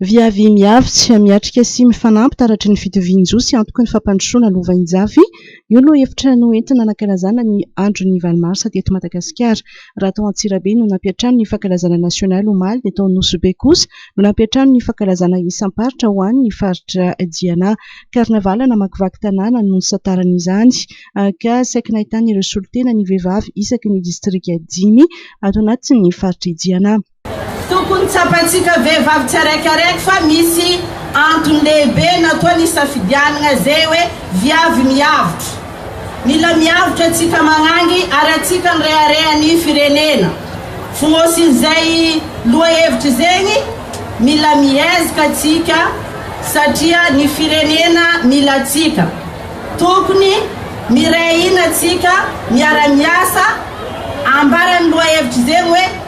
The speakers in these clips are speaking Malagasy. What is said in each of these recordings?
Viavy mihavitsy, miatrika sy mifanampy taratry ny fitovian-jo sy antoky ny fampandrosoana lovainjafy, io no hevitra noentina nankalazana ny andron'ny valo marsa teto Madagasikara. Raha tao Antsirabe no nampiantrano ny fankalazana nasionaly omaly dia tao Nosy Be kosa no nampiantrano ny fankalazana isam-paritra ho an'ny faritra Diana. Karnavaly namakivaky tanàna no nisantarana izany ka saiky nahitana ireo solontena ny vehivavy isaky ny distrika dimy ato anatin'ny faritr'i Diana. Tokony tsapantsika vehivavy tsiaraikaraiky fa misy antony lehibe natoany isafidianagna ze hoe viavy miavotro. Mila miavotro atsika magnangy ary atsika nirehareha ny firenena. Fonosin zay loha hevitry zegny, mila mihezaka atsika satria ny firenena mila atsika. Tokony miray hina atsika miara miasa ambarany loha hevitry zegny hoe.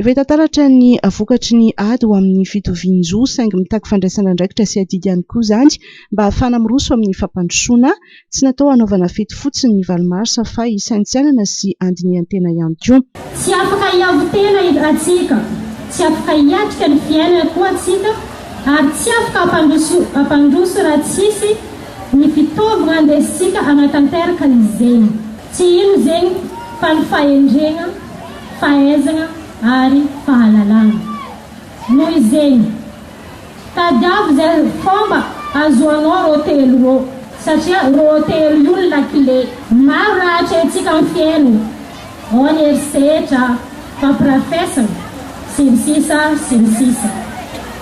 Efa hita taratra ny vokatry ny ady ho amin'ny fitovian-jo, saingy mitaky fandraisana andraikitra sy adidy ihany koa izany mba ahafahana miroso amin'ny fampandrosoana. Tsy natao hanaovana fety fotsiny ny valo marsa fa hisaintsainana sy handinihan-tena ihany koa. Tsy afaka hiavo-tena atsika, tsy afaka hiatrika ny fiainana koa atsika ary tsy afaka hampandroso raha tsisy ny fitaovagna andesintsika hanatanteraka ny zegny. Tsy ino zegny fa ny fahendregna. fahaizana ary fahalalana. Noho izegny, tadiavo izay fômba azoanao rô telo rô satria rô telo io lakile. Maro raha atrehintsika am fiaigna ao ny herisetra, fampirafesana, sy ny sisa sy ny sisa.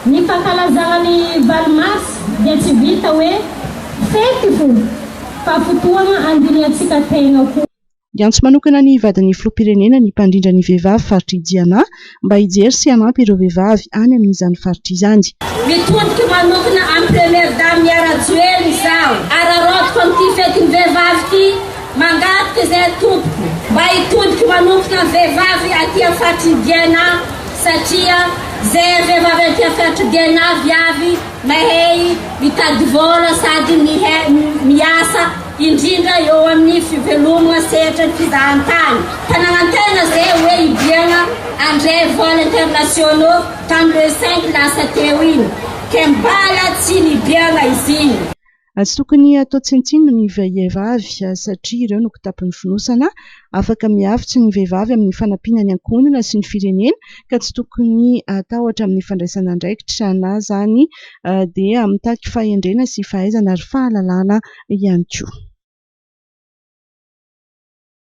Ny fankalazagna ny valo mars dia tsy vita hoe fety fô fa fotoagna andinihantsika tegna koa. Niantso manokana ny vadin'ny filoham-pirenena ny mpandrindra ny vehivavy faritr'i Jiana mba hijery sy hanampy ireo vehivavy any amin'izany faritra izany. Mitodika manokana amin'ny Première Dame Yah Rajoelina izaho. Araraotiko amin'ity fetin'ny vehivavy ity, mangataka izahay tompoko mba hitodika manokana ny vehivavy aty amin'ny faritr'i Diana satria izahay vehivavy aty amin'ny faritr'i Diana avy avy mahay mitady vola sady miasa. indrindra eo amin'ny fivelomana sehatra ny fizahantany ka nanantena izay hoe hidiana handray vol internationaux tamin'ny le cinq lasa teo iny ka mbala tsy nidiana izy iny. Tsy tokony hatao tsinontsinona ny vehivavy satria ireo no kitapon'ny fonosana Afaka mihavitsy ny vehivavy amin'ny fanampiana ny ankohonana sy ny firenena ka tsy tokony hatahotra amin'ny fandraisana andraikitra na izany dia mitaky fahendrena sy fahaizana ary fahalalana ihany koa.